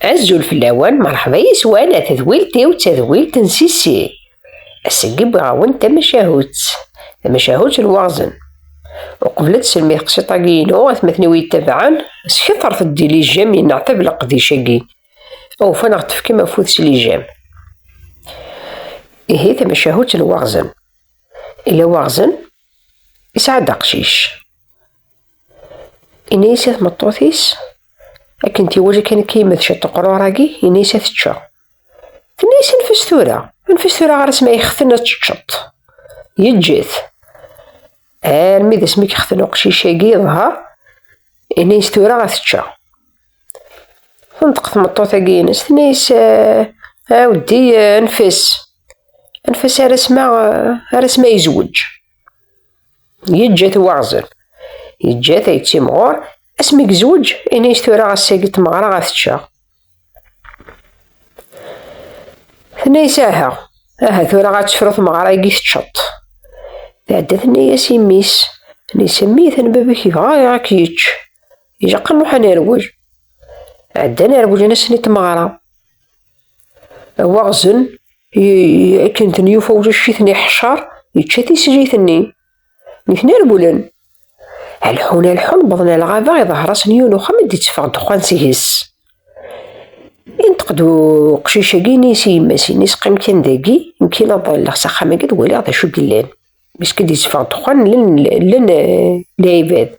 Azul fell-awen, merḥba yes-wen a tedwilt-iw d tadwilt n Sissi. Ass-agi wwiɣ-awen-d tamacahut, tamacahut n waɣzen. Uqbel ad tselmi teqsiṭ-agi-inu, atmaten-iw iyi-ttabaɛen, sketret-d i lijam yenneɛtab leqdic-agi. Awufan ad ɣ-d-tefkem afud s lijam. Ihi tamacahut n waɣzen. Ila waɣzen, yesɛa-d aqcic. Inna-yas i tmeṭṭut-is, akken tiwaja kan akka yemma tečča ṭeqrur-agi, inna-yas ad tečča. Tenna-yas anef-as tura, anef-as tura ɣer asmi yexten ad teččeḍ. Yeǧǧet. Armi d asmi yexten uqcic-agi yeḍher, inna-yas tura ad tečča. Tenṭeq tmeṭṭut-agi ines, tenna-yas ɛawdi anef-as. Anef-as ar asma, ar asma yezweǧ. Yeǧǧa-t waɣzen. Yeǧǧa-t ay ttimɣur, asmi gezweǧ, ini-as tura ass-agi tmeɣra ad teččeɣ. Tenna-as aha, aha tura ad tefru tmeɣra-agi teččeḍ. Tɛedda tenna-as i mmi-s, nisemmi-ten baba-k yebɣa iɣ ad k-yečč. Ilaq ad nruḥ ad nerwel. Ɛeddan rewlen-asen i tmeɣra. Waɣzen, akken ten yufa ucicit-nni ḥcer, yečča tislit-nni. Nitni rewlen. Alḥun alḥun wwḍen ar lɣaba, iḍher-asen yiwen uxxam i d-itteffeɣ ddexxan seg-s. Inṭeq-d uqcic-agi ini-as i yemma-s-nnes, qqim kan dagi, nekk ad ḍalleɣ s axxam-agi ad waliɣ d acu yellan. Bisk i d-itteffeɣ ddexxan llan llan lɛibad.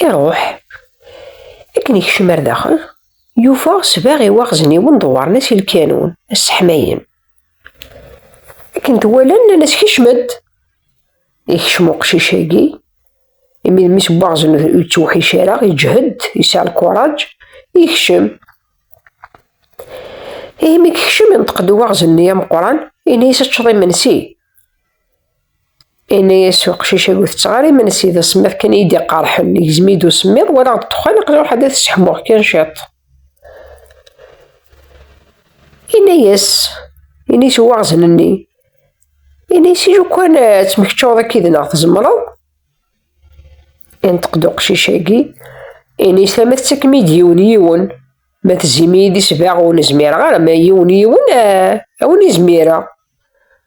Iruḥ. Akken ikcem ar daxel, yufa sbeɣ i waɣzen-iwen dewwaren-as i lkanun, asseḥmayen. Akken t-walan, nnan-as kecmet. Ikcem uqcic-agi, imi d mmi-s n waɣzen ur yettewḥic ara, iǧhed, yesɛa lkuraǧ, ikcem. Ihi mi ikcem, inṭeq-d uwaɣzen-nni ameqqran, ini-as ad teččeḍ imensi. Yenna-yas uqcic ur tetteɣ ara imensi, d asemmiḍ kan iyi d-iqerḥen, igzem-iyi-d usemmiḍ, walaɣ ddexxan, aql-i ruḥ ad t-sseḥmuɣ kan ciṭ. Yenna-yas, yenna-yas uwaɣzen-nni, yenna-yas ilu kan eh, ad temmekčuḍ akka id-neɣ tzemreḍ. Yenṭeq-d uqcic-agi, yenna-yas tama tettakem-iyi-d yiwen yiwen, ma tezzim-iyi-d isbaɣ ur nezmireɣ ara, ma yiwen yiwen eh, a wen-izmireɣ.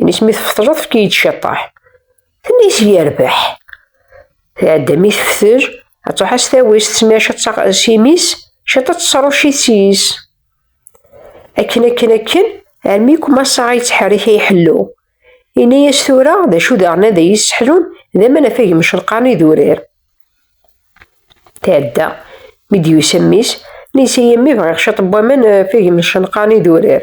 Ini-s mi tfeṭleḍ efk-iyi-d ciṭṭaḥ. Tenna-yas yerbeḥ. Tɛedda mi teftel, ad truḥ as tawis tesmir ciṭ s imi-s, ciṭ ad tesrucit s yis. Akken akken akken, armi kumasaɣ yettḥerrik ay ḥellu. Ini-yas tura d acu daɣen ad iyi-sseḥlun d aman afag mcelqaren idurar. Tɛedda, mi d-yusa mmi-s, nisa yemmi bɣiɣ ciṭ n waman afag mcelqaren idurar.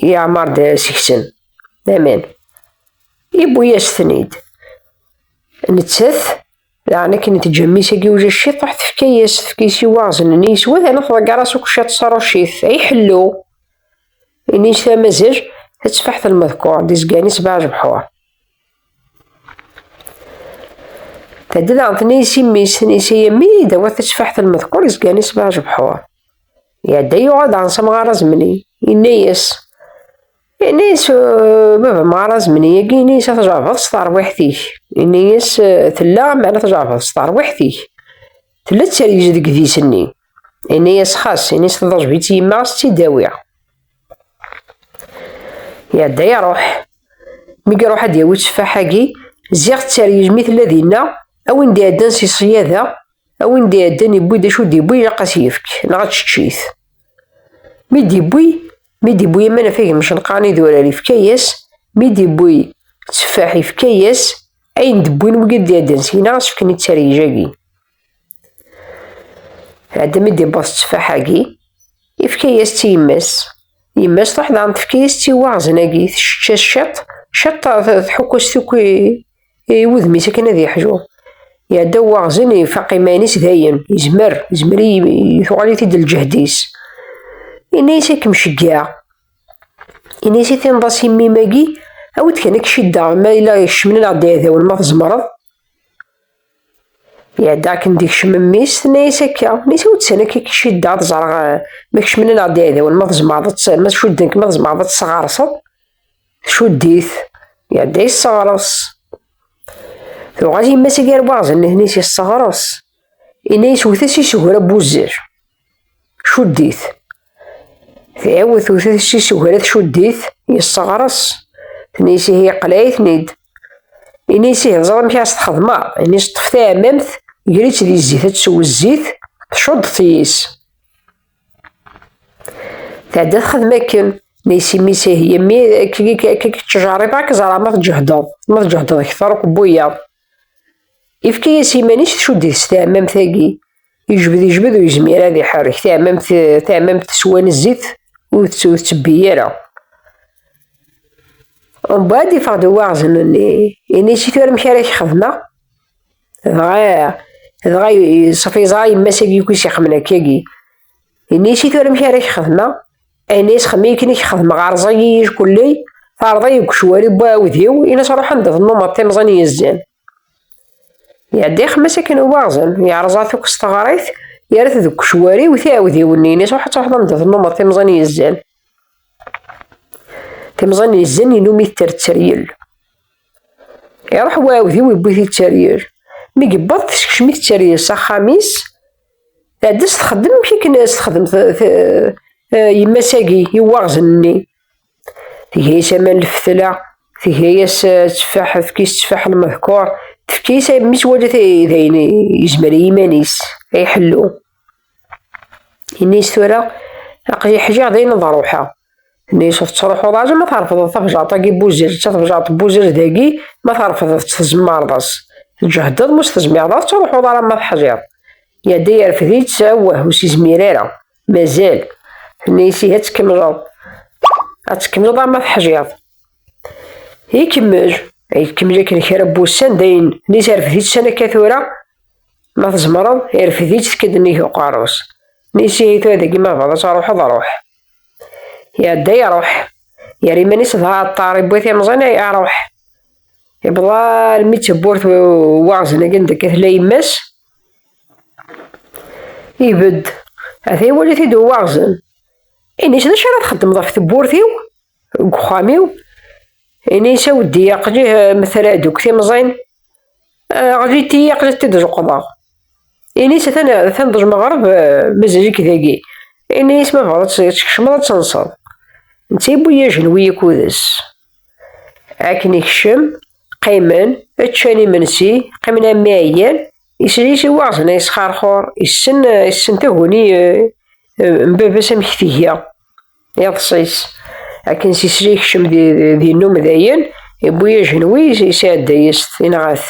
Yeɛmer-d seg-sen laman. Iwwi-yas-ten-id. Nettat, daɣen akken i teǧǧa mmi-s agi ujac ciṭ, truḥ tefka-yas, tefka-yas i waɣzen-nni, yeswa daɣen tḍegger-as akk ciṭ s rrucit. Ay ḥellu! Ini-s tamazaj, tatteffaḥt n lmeḍkur, d izgan-is baɛjebḥur. Tadda daɣen tenna-yas i mmi-s, tenna-yas ay a mmi, dawat tatteffaḥt n lmeḍkur, izgan-is baɛjebḥur. Iɛedda yuɣal ɣer samɣar azemni, yenna-yas, yenna-yas eh, baba mɣar azemni, yagi yenna-yas ad tjerbeḍ s terwiḥt-ik, yenna-yas eh, tella mɛna tjerbeḍ s terwiḥt-ik, tella ttergez deg idis-nni, yenna-yas xas, yenna-yas tḍejb-itt yemma ad tt-id-awiɣ. Iɛedda iruḥ, mi iruḥ ad yawi tteffaḥ-agi, ziɣ ttergez mi tella dinna, a win d-iɛeddan si ṣṣyada, A win d-iɛeddan yewwi-d acu d-yewwi ilaq ad s-yefk, neɣ ad tečč-it. Mi d-yewwi, mi d-yewwi aman afag imcenqaren idurar yefka-yas, mi d-yewwi tteffaḥ yefka-yas, ayen d-wwin wigi d-iɛeddan syin-a ad s-fken i ttarij-agi. Ɛedda mi d-yewweḍ tteffaḥ-agi, yefka-yas-tt i yemma-s. Yemma-s truḥ daɣen tefka-yas-tt i waɣzen-agi, tečč-as ciṭ, ciṭ tḥukk-as-t akk i i wudem-is akken ad yeḥju iɛedda waɣzen ifaq iman-is dayen izmer izmer tuɣal-it-id lǧehd-is ini-as ad kem-ceggeɛ ini-as i tinḍas imim-agi awi-d kan ad k-ciddeɣ ma yella kecmen neɣ d-iɛdawen ma tzemreḍ iɛedda akken d-ikcem mmi-s tenna-as akka nisa ur d-san akka k-ciddeɣ ad ẓreɣ ma kecmen neɣ d-iɛdawen ma tzemreḍ ma cudden-k ma tzemreḍ ad tesɣerseḍ Tcudd-it, iɛedda yesseɣres. Tuɣal yemma-s agi arbaɣzen-nni-s yesseɣres. Ini-as wet-as isegra n wuzzal. Cudd-it. Tɛiwed tewt-as isegra tcudd-it, yesseɣres. Tni-as ihi yeqleɛ-iten-id. Ini-as ihi teẓra amek ara s-txedmeḍ. Ini-as ṭṭef taɛmamt, ger-itt di zzit ad tsew zzit, tcudd-t yis. Tɛedda txedem akken neysimis ihi yemmi k-ttjaribeɣ ad k-ẓreɣ ma tǧehdeḍ ma tǧehdeḍ kter akk n wiyaḍ ifka-yas iman-is tcuddit s tɛemmamt-agi yejbed yejbed ur yezmir ad iḥerrek tɛemmamt tɛemmamt teswan zzit ur tettebbi ara mbeɛd iffeɣ-d uwaɣzen-nni ini-as i tura amek ara k-xedmeɣ dɣa dɣa ṣef yeẓra yemma-s abyuk-is ixemmen akkagi ini-s i tura amek ara k-xedmeɣ ini-s xemmi akken i k-xedmeɣ rẓay-iyi kulley terḍa-yi deg ucwari n uɛudiw ini-s ruḥ anda tennumeḍ timẓin yezzan iɛedda ixemmas akken uwaɣzen yerẓa tukes teɣrit yerra-t deg ucwari u tiɛudiw-nni ini-s ruḥ ad truḥeḍ anda tennumeḍ timẓin yezzan timẓin yezzan ilumi tetter tteryel Iruḥ uɛewdiw iwwi-t i tteryel. Mi yewweḍ teskcem-it tteryel s axxam-is, tɛedda s texdem amek akken as texdem yemma-s-agi i waɣzen-nni. Tga-yas aman lfetla, tga-yas tteffaḥ, tefka-yas tteffaḥ lmehkuṛ, tefka-yas mi twala d ayen yezmer i yiman-is ay ḥellu. Ini-as tura, aql-i ḥjiɣ d ayen ad ruḥeɣ. Ini-as ur tettruḥuḍ ara ma trefdeḍ tabjaṛt-agi n Buzirett, tabjaṛt n Buzirett dagi ma trefdeḍ-tt tzemmareḍ-as. Tǧehdeḍ ma ur s-tezmireḍ ara ad truḥuḍ ara ma teḥjiḍ. Iɛedda yerfed-itt, awwah ur s-izmir ara, mazal. Ini-as ihi ad tkemmleḍ. Ad tkemmleḍ arma teḥjiḍ. Ikemmel, ikemmel akken kra n wussan dayen, ini-as rfed-itt sana akka tura, Ma tzemreḍ, irfed-itt tekk-d nnig uqerru-s. Nisihi tura deg ma bɣiḍ ad tṛuḥeḍ, ruḥ. Iɛedda iṛuḥ. Yerra iman-is d aɛeṭṭar, iwwi timẓin, ay aṛuḥ. Iwweḍ almi d tewwurt waɣzen-agi n deg tella yemma-s. Ibedd. Ata iwali-t-id uwaɣzen. Ini-s d acu ara txeddmeḍ ɣef tewwurt-iw? deg uxxam-iw inisa weddi aqli eh, metala deg timẓin eh, ɣlit-iyi aqli t-id zuqḍeɣ inis atan atan d lmeɣreb eh, mazal-ik dagi inis ma bɣiḍ tkecmeḍ ad tenseḍ netta yewwi ajenwi ikudes akken ikcem qqimen ččan imensi qqimen armi ɛyan islis i waɣzen yesxerxur issen issen taguni n baba-s amek tgiɣ iḍṣis akken s isri kcem di num dayen iwwi ajenwi isɛedda-yas tinɣat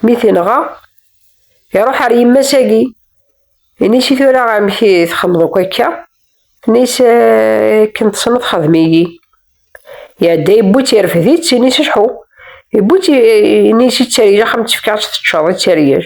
mi tinɣa iruḥ ar yemma-sagi ini-s i tura amek i txemmeḍ akk akka ini-s akken tesneḍ xedm-iyi iɛedda iwwi-tt irfed-itt ini-s iḥu iwwi-tt ini-s i ttarij axxam tefka-tt teččeḍ i ttarij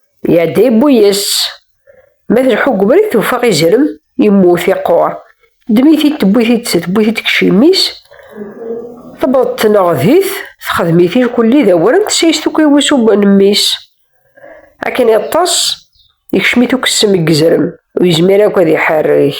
Iɛedda yewwi-yas. Ma tleḥḥu deg ubrid tuffeɣ izrem, yemmut, iqquṛ. Teddem-it-id tewwi-t-id tewwi-t-id deg yiciwi-s, tewweḍ tneɣdit, texdem-it irkelli d awren, tessayes tukkra i wusu n mmi-s. Akken iṭṭes, ikcem-it ukessem deg yizrem, ur yezmir akk ad iḥerrek.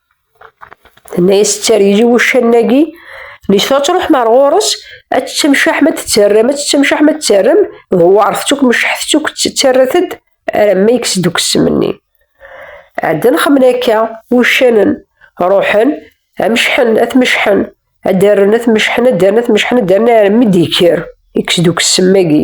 Tenna yas tter yili wuccan-agi, Nitfa ad truḥem ar ɣur-s, ad tettemcaḥ ma tettarram, ad tettemcaḥ ma tettarram, dewwaṛet-tt akk, mecḥet-tt akk, ttarrat-d aramma yekkes-d ukessem-nni. Ɛeddan xemmen akka, wuccanen, ruḥen, amecḥen, ad tmecḥen, ad d-rren, ad tmecḥen, ad d-rren, ad tmecḥen, ad d-rren, aramma d-yekker, yekkes-d ukessem-agi.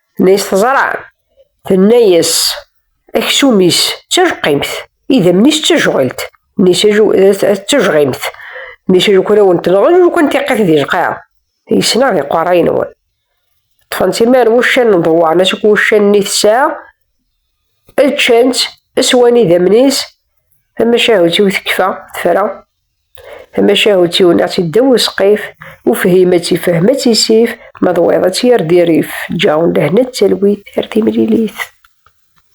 Nes teẓra, tenna-yas, aksum-is d tajqimt, idammen-is d tajɣilt, nes d tajɣimt, nes lukan ad wen-tenɣen, lukan tiqit di lqaɛa, yesna di qeṛṛa-nwen. Ṭṭfen-tt imar wuccan n ḍewwaṛen-as akk wuccan-nni tesɛa, ččan-tt, swan idammen-is, tamacahut-iw tekfa, tefra, Tamacahut iwneɣ-tt iddaw usqif, ufhim ad tifhem ad tisif, ma d wayeḍ ad tt-yerr di rrif, ǧaɛun lehna d talwit ar timlilit.